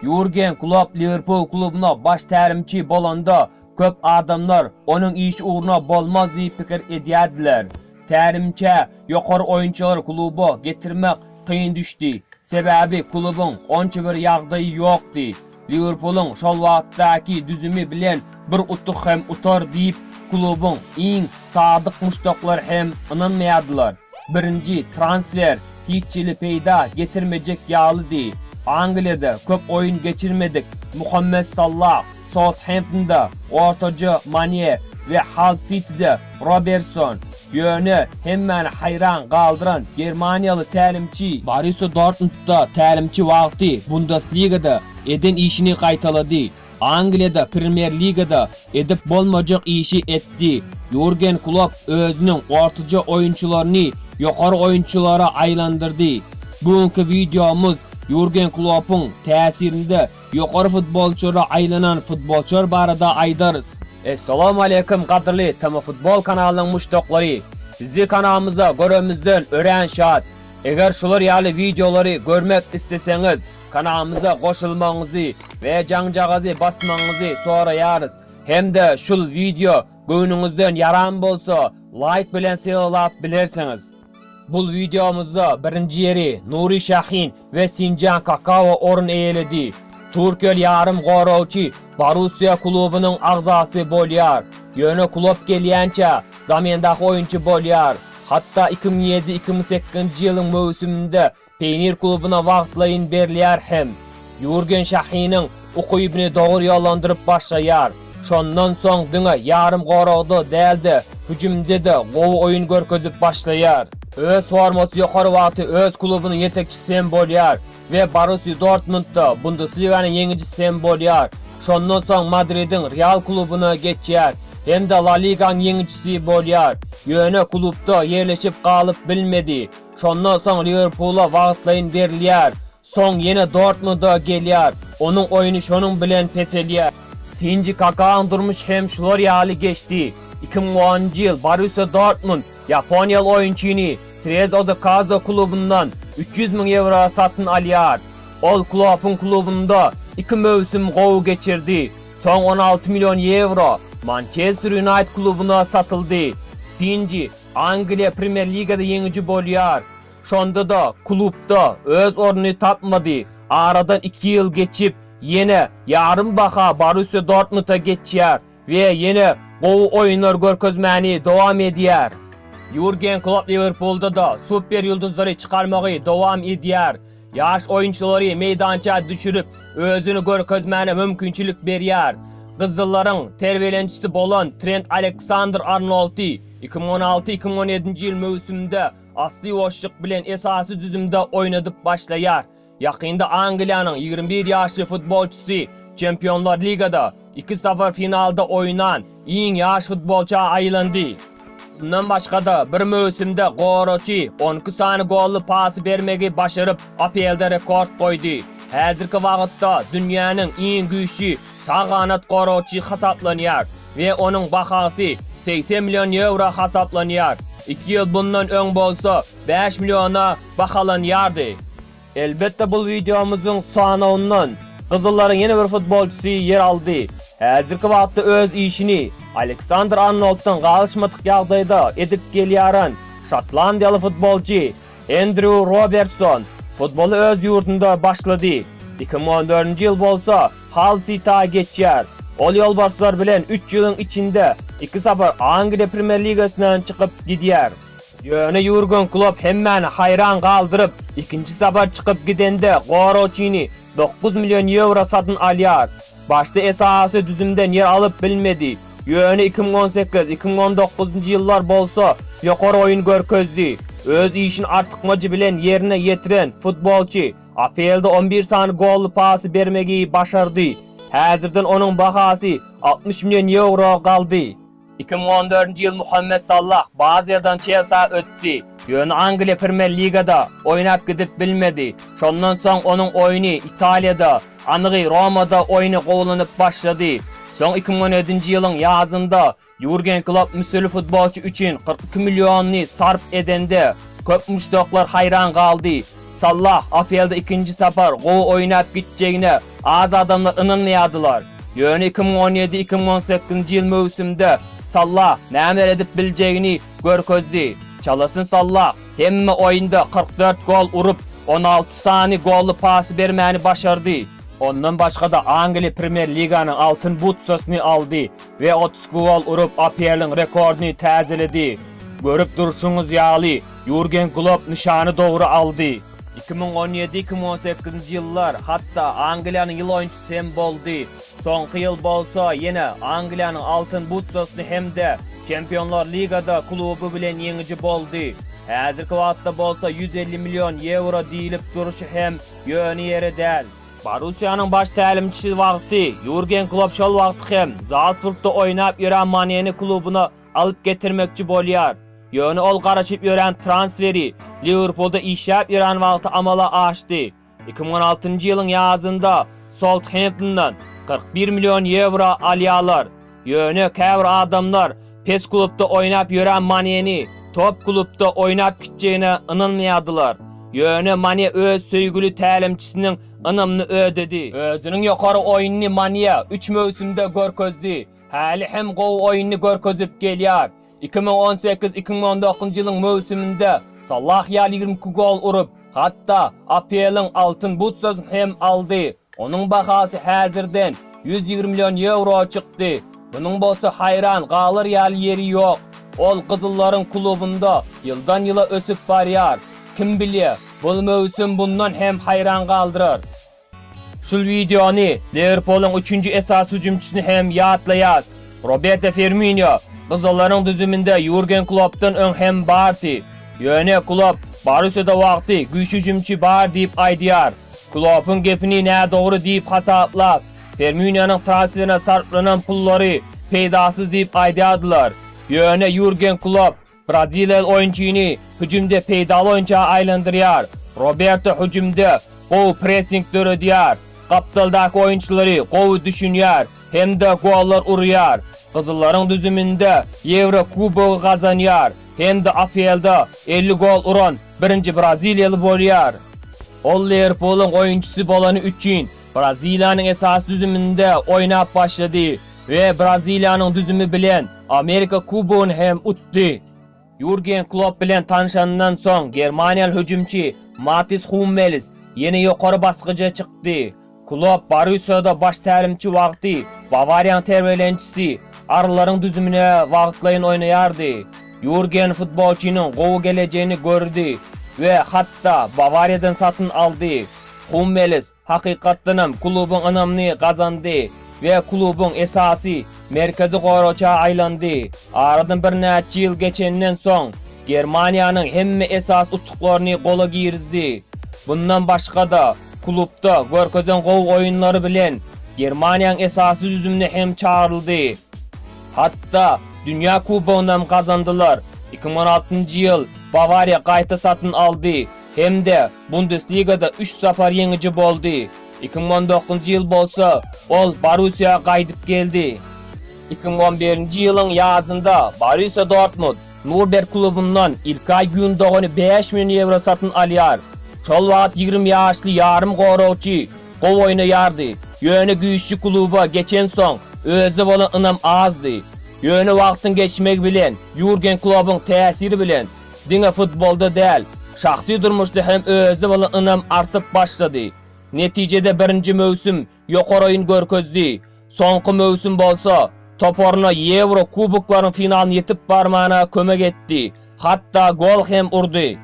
Jurgen Klopp Liwerpul klubyna baş tälimçi bolanda, köp adamlar onuň işi ugruna bolmaz diýip pikir edýärdiler. Tälimçä ýokary oýunçylary kluba getirmek kyn düşdi. Sebäbi klubyň onça bir ýagdaýy ýokdy. Liwerpulyň şol wagtdaky düzümi bilen bir utuk hem utar diýip, klubuň iň sadyk muşdaklary hem ynanmaýardylar. Birinji transfer hiç hili peýda getirmejek ýalydy. Angliýada köp oýun geçirmedik Muhammet Sallah Southamptonda ortaja Mane we Hall Sitide Robertson, Ýöne, hemmäni haýran galdyran germaniýaly tälimçi Borussia Dortmundda tälimçi wagty Bundesligada eden işini gaýtalady. Angliýada Premýer-ligada edip bolmajak işi etdi. Ýurgen Klopp özüniň ortaja oýunçylaryny ýokary oýunçylara aýlandyrdy. Bu günki wideomyz Ýurgen Kloppyň täsirinde Ýokary futbolçyra aýlanan futbolçylar barada aýdarys. Essalamu aleýkum gadyrly TM futbol kanalynyň muşdaklary! Sizi kanalymyzda göremizden örän şat! Eger şular ýaly wideolary görmek isleseňiz, kanalymyza goşulmagyňyzy we jaňjagazy basmagyňyzy soraýarys! Hem-de şul wideo göwnüňizden ýaran bolsa, laýk bilen sylap bilersiňiz! Bul wideomyzda birinji ýeri Nuri Şahin we Sinjan Kakawa orun eýeledi. Türkiýeli ýarym goragçy Borussiýa klubunyň agzasy bolýar. Ýöne Klopp gelýänçä zamendaky oýunçy bolýar. Hatda iki müň ýedi-iki müň sekizinji ýylyň möwsüminde Peýnir klubuna wagtlaýyn berilýär hem Ýurgen Şahiniň ukybyny dogry ýollandyryp başlaýar. Şondan soň diňe ýarym goragda däl-de, hüjümde-de gowy oýun görkezip başlaýar. Öz formasy ýokary wagty öz klubunyň ýetekçisi hem bolýar we Borussiýa Dortmundda Bundesliganyň ýeňijisi hem bolýar. Şondan soň Madridiň Real klubuna geçýär hem-de La Liganyň ýeňijisi bolýar. Ýöne klubda ýerleşip galyp bilmedi. Şondan soň Liwerpula wagtlaýyn berilýär. Soň ýene Dortmunda gelýär. Onuň oýny şonuň bilen peselýär. Şinji Kakaň durmuşy hem şular ýaly geçdi. Iki müň onunjy ýyl Borussiýa Dortmund ýaponiýaly oýunçyny Srez Ozokazo klubundan üç ýüz müň ýewroa satyn alýar. Ol Kloppyň klubunda iki möwsüm gowy geçirdi. Soň on alty million ýewro Mançester Ýunaýted klubuna satyldy. Şinji Angliýa Premýer Ligada ýeňiji bolýar. Şonda-da klubda öz ornuny tapmady. Aradan iki ýyl geçip, ýene ýarym baha Borussiýa Dortmunda geçýär we ýene gowy oýunlar görkezmäni dowam edýär. Ýurgen Klopp Liwerpulda-da super ýyldyzlary çykarmagy dowam edýär. Ýaş oýunçylary meýdança düşürip, özüni görkezmäne mümkinçilik berýär. Gyzyllaryň terbiýelençisi bolan Trent Aleksandr-Arnoldy iki müň on alty, iki müň on ýedinji ýyl möwsüminde asly boşluk bilen esasy düzümde oýnadyp başlaýar. Ýakynda Angliýanyň ýigrimi bir ýaşly futbolçysy Çempionlar ligada, Iki sapar finalda oýnan iň ýaş futbolça aýlandy. Mundan başga-da, bir möwsümde goraçy on iki sany golly pasy bermegi başaryp, APL-de rekord goýdy. Häzirki wagtda dünýäniň iň güýçli sag ganat goraçy hasaplanýar we onuň bahasy segsen million ýewro hasaplanýar. Iki ýyl bundan öň bolsa bäş milliona bahalanýardy. Elbetde bul wideomyzyň sanawyndan gyzyllaryň ýene bir futbolçysy ýer aldy. Häzirki wagtda öz işini Aleksandr Arnolddan galyşmadyk ýagdaýda edip gelýäran şotlandiýaly futbolçy Endrýu Robertson futboly öz ýurdunda başlady. Iki müň on dördünji ýyl bolsa Hall Sita geçýär. Ol ýolbarslar bilen üç ýylyň içinde iki sapar Angliýa Premýer-ligasyndan çykyp gidýär. Ýöne Ýurgen Klopp hemmäni haýran galdyryp, ikinji sapar çykyp gidende goragçyny dokuz million ýewro satyn alýar. Başda esasy düzümden ýer alyp bilmedi, ýöne iki müň on sekiz, iki müň on dokuzynjy ýyllar bolsa ýokary oýun görkezdi. Öz işini artykmajy bilen ýerine ýetiren futbolçy APL-de on bir sany golly pasy bermegi başardy. Häzirden onuň bahasy altmyş million ýewro galdy. Iki müň on dördünji ýyl Muhammet Sallah Baziýadan Çelsa ötdi, ýöne Angliýa Premýer Ligada oýnap gidip bilmedi. Şondan soň onuň oýny Italiýada, anygy Romada oýna gowulanyp başlady. Soň iki müň on ýedinji ýylyň ýazynda Ýurgen Klopp müsürli futbolçy üçin kyrk iki milliony sarp edende, köp muşdaklar haýran galdy. Sallah APL-de ikinji sapar gowy oýnap gitjegine Az adamlar ynanýardylar. Ýöne iki müň on ýedi, iki müň on sekizinji ýyl möwsümde Sallah nämeler edip biljegini görkezdi. Çalasyn Sallah hemme oýunda kyrk dört gol urup, on alty sany golly pasy bermäni başardy. Ondan başga-da Angliýa Premýer Liganyň Altyn butsasyny aldy we otuz iki gol urup, APL-iň rekordyny täzeledi. Görüp durşuňyz ýaly, Ýurgen Klopp nyşany dogry aldy. Iki müň on ýedi-iki müň on sekizinji ýyllar hatda Angliýanyň ýyl oýunçysy hem boldy. Soňky ýyl bolsa ýene Angliýanyň Altyn butsasyny hem-de Çempionlar ligada kluby bilen ýeňiji boldy. Häzirki wagtda bolsa ýüz elli million ýewro diýlip durşy hem ýöne ýere däl. Borussiýanyň baş tälimçisi wagty Ýurgen Klopp şol wagt hem Zalsburgda oýnap ýören Maneni klubuna alyp getirmekçi bolýar. Ýöne ol garaşyp ýören transferi Liwerpulda işläp ýören wagty amala aşdy. Iki müň on altynjy ýylyň ýazynda Southamptondan kyrk bir million ýewro alýarlar. Ýöne käbir adamlar pes klubda oýnap ýören Maneni top klubda oýnap gitjegine ynanmaýardylar. Ýöne Mane öz söýgüli tälimçisiniň ynamyny ödedi. Özüniň ýokary oýnuny Mania üç möwsümde görkezdi. Häli hem gowy oýnuny görkezip gelýär. Iki müň on sekiz, iki müň on dokuzynjy ýylyň möwsüminde Salah ýaly ýigrimi iki gol urup, hatda APL-iň Altyn butsasyny hem aldy. Onuň bahasy häzirden ýüz ýigrimi million ýewro çykdy. Munuň bolsa haýran galar ýaly ýeri ýok. Ol gyzyllaryň klubunda ýyldan-ýyla ösüp barýar. Kim bilýä, bul möwsüm bundan hem haýran galdyrar. Şul wideony Liwerpulyň üçünji esasy hüjümçisini hem ýatlaýas. Roberto Firminio gyzyllaryn düzüminde Ýurgen Kloppdan öň hem barty. Ýöne Klopp Borussiýada wagty güýçli hüjümçi bar diýip aýdýar. Kloppyň gepini nädogry diýip hasaplap, Firminionyň transferine sarplanan pullary peýdasyz diýip aýdýardylar. Ýöne Ýurgen Klopp Braziliýaly oýunçyny hüjümde peýdaly oýunça aýlandyrýar. Roberto hüjümde gowy pressing döredýär, gapdaldaky oýunçylary gowy düşünýär hem-de gollar urýar. Gyzyllaryň düzüminde Ýewro kubogy gazanýar hem-de APL-da elli gol uran birinji braziliýaly bolýar. Ol Liwerpulyň oýunçysy bolany üçin Braziliýanyň esasy düzüminde oýnap başlady. We Braziliýanyň düzümi bilen Amerika Kubogyny hem utdy. Ýurgen Klopp bilen tanşanyndan soň germaniýaly hüjümçi Matis Hummelis ýene ýokary basgyja çykdy. Klopp Borussiýada baş tälimçi wagty Bawariýaň terbiýelençisi Arllaryň düzümine wagtlaýyn oýnaýardy. Ýurgen futbolçynyň gowy gelejegini gördi we hatda Bawariýadan satyn aldy. Hummelis Hakykatdanam, klubuň ynamyny gazandy we klubuň esasy merkezi goragça aýlandy. Aradan birnäçe ýyl geçenden soň, Germaniýanyň hemme esasy utuklaryny gola girizdi. Mundan başga-da, klubda görkezen gowy oýunlary bilen Germaniýanyň esasy düzümine hem çagyryldy. Hatda Dünýä kubogynam gazandylar. Iki müň on altynjy ýyl Bawariýa gaýta satyn aldy hem-de Bundesligada üç sapar ýeňiji boldy. Iki müň on dokuzynjy ýyl bolsa, ol Borussiýa gaýdyp geldi. Iki müň on birinji ýylyň ýazynda Borussiýa Dortmund, Nurberg klubundan Ilkaý Gündogany bäş million ýewro satyn alýar. Şol wagt ýigrimi ýaşly ýarym goragçy gowy oýnaýardy, ýöne güýçli kluba geçensoň, özüne bolan ynam azdy. Ýöne wagtyň geçmegi bilen Ýurgen Klobbyň täsiri bilen, Diňe futbolda däl, şahsy durmuşda hem özüne bolan ynam artyp başlady. Netijede birinji möwsüm ýokary oýun görkezdi. Soňky möwsüm bolsa, toparyna Ýewro kuboklarynyň finalyna ýetip barmana kömek etdi, hatda gol hem urdy.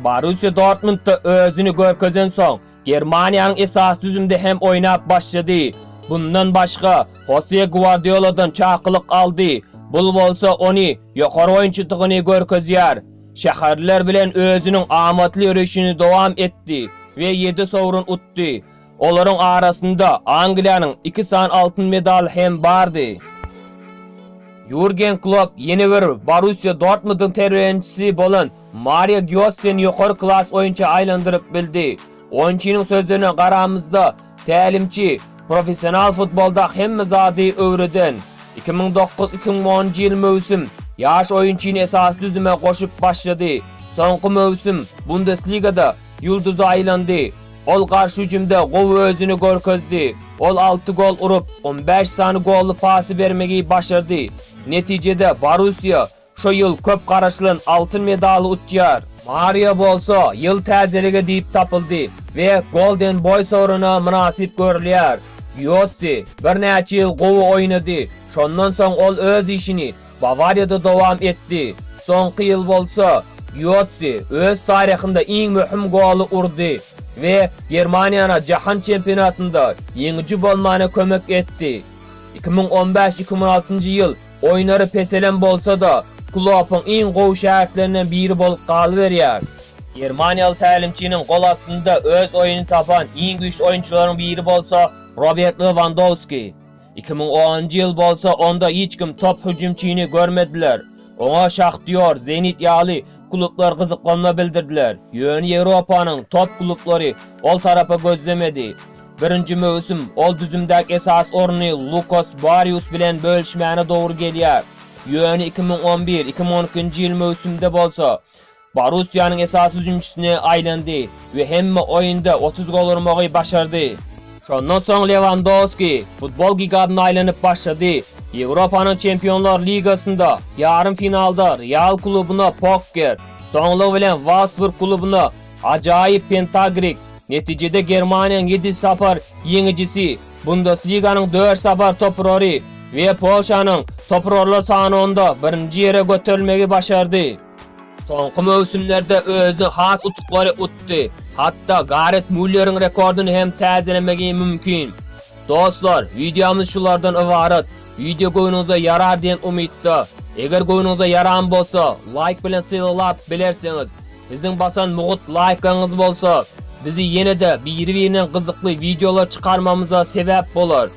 Borussiýa Dortmundda özüni görkezensoň, Germaniýanyň esasy düzümde hem oýnap başlady. Bundan başga, Hose Gwardioladan çakylyk aldy, bul bolsa ony ýokary oýunçydygyny görkezýär. Şäherliler bilen özüniň amatly ýörişini dowam etdi we ýedi sowrun utdy. Olaryň arasynda Angliýanyň iki sany altyn medaly hem bardy. Ýurgen Klopp ýene bir Borussiýa Dortmundyň terbiýelençisi bolan Mario Giossen ýokary klas oýunça aýlandyryp bildi. Oýunçynyň sözlerine garamyzda, tälimçi, professional futbolda hemme zady öwreden. Iki müň dokuz, iki müň onunjy ýyl möwsüm ýaş oýunçyny esasy düzüme goşup başlady. Soňky möwsüm Bundesligada ýulduza aýlandy. Ol garşy hüjümde gowy özüni görkezdi. Ol alty gol urup, on bäş sany golly pasy bermegi başardy. Netijede Borussiýa Şu ýyl köp garaşylan altyn medaly utýar. Mario bolsa ýyl täzeligi diýip tapyldy we Golden Boý soruna mynasyp görülýär. Ýotsi birnäçe ýyl gowy oýnady, şondan soň ol öz işini Bawariýada dowam etdi. Soňky ýyl bolsa Ýotsi öz taryhynda iň möhüm goly urdy we Germaniýana Jahan çempionatynda ýeňiji bolmana kömek etdi. Iki müň on bäş-iki müň altynjy ýyl Oýnary peselem bolsa-da, Kloppyň iň gowy şägirtlerinden biri bolup galyberýär. Germaniýaly tälimçiniň gol astynda öz oýuny tapan iň güýçli oýunçylaryň biri bolsa Robert Lewandowski. Iki müň onunjy ýyl bolsa onda hiç kim top hüjümçini görmediler. Oňa Şahtýor, Zenit ýaly klublar gyzyklanma bildirdiler, ýöne Ýewropanyň top klublary ol tarapa gözlemedi. Birinji möwsüm, ol düzümdäki esasy orny Lukas Barrius bilen bölüşmäne dogry gelýär. Ýöne iki müň on bir, iki müň on ikinji ýyl möwsümde bolsa, Borussiýanyň esasy hüjümçisine aýlandy we hemme oýunda otuz gol urmagy başardy. Şondan soň Lewandowski futbol gigantyna aýlanyp başlady. Ýewropanyň Çempionlar ligasynda ýarym finalda Real klubuna Pokker, soňlugy bilen Wolfsburg klubuna Ajaýyp pentagrik, netijede Germaniýanyň ýedi sapar ýeňijisi, Bundesliganyň dört sapar toprary we Polşanyň toprarlar sanawynda birinji ýere göterilmegi başardy. Soňky möwsümlerde özüne has utuklary utdy, hatda Garet Mulleriň rekordyny hem täzelemegi mümkin. Dostlar, wideomyz şulardan ybarat, wideo göwnüňize ýarar diýen umytda. Eger göwnüňize ýaran bolsa, laýk bilen sylaglap bilersiňiz. Biziň basan mugut laýkaňyz bolsa, bizi ýene-de biri-birinden gyzykly wideolar çykarmamyza sebäp bolar.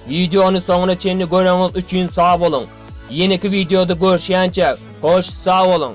Wideony soňuna çenli göreňiz üçin sag boluň! Ýeneki wideoda görüşýänçäk, hoş sag boluň!